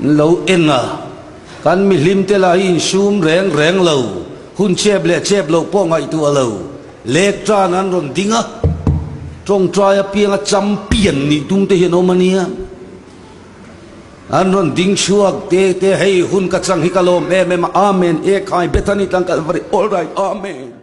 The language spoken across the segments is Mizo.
An lo eng a, kan mihlim te lah hi insum reng reng lo, hun chep leh chep loh pawh ngaihtuh a lo, lek tan an rawn ding a, tawngtai apiang a champion nih tum te hi an awm a nia, an rawn ding chhuak te te hei hun ka chang hi ka lawm em em a, amen, ekhai, Bethany tlang Calvary, alright, amen.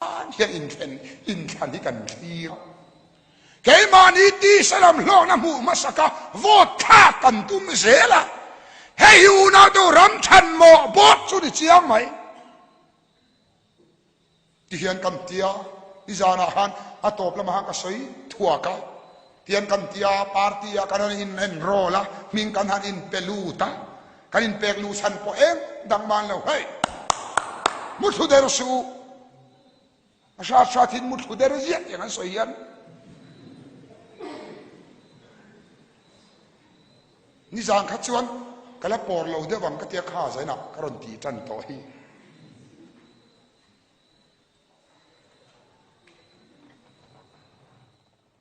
An hia inthlen inthlan hi kan thlir a, keimahni tisa lam hlawkna hmuh hmasa kha vote thlak kan tum zel a, hei unau deuh ram thanmawh bawk chu ni chiang mai ti hian kan ti a, i zanah khan a tawp lamah khan ka sawi thuak a, Tian kan ti a, party a kan han in enroll a, hming kan han in pe lut a, kan in pek lu chhan pawh em dang man lo hei! Muthlu der si u! A hrat hrat in muthlu der ziah tiang an sawi hian nizan kha chuan ka la pawr lo deuh ang ka tia kha zain ah ka rawn ti tan tawh hi.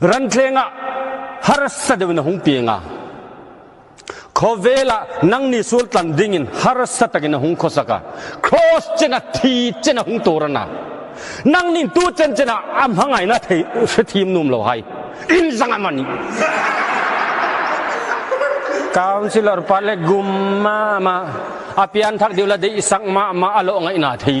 Ranthlengah harsa deuhin a hung pi eng a? Khawvela nangni sultlan dingin harsa takin a hung khawsak a, Cross chen a thi chen a hung tur a na. Nangni tu chen chen ah a hmangaihna theih hrethiam nuam lo hai. Inzang a mani. Councillor Pale gum mah mah, a pianthak deuh la deih sak mah mah a lawh ngaihna theih.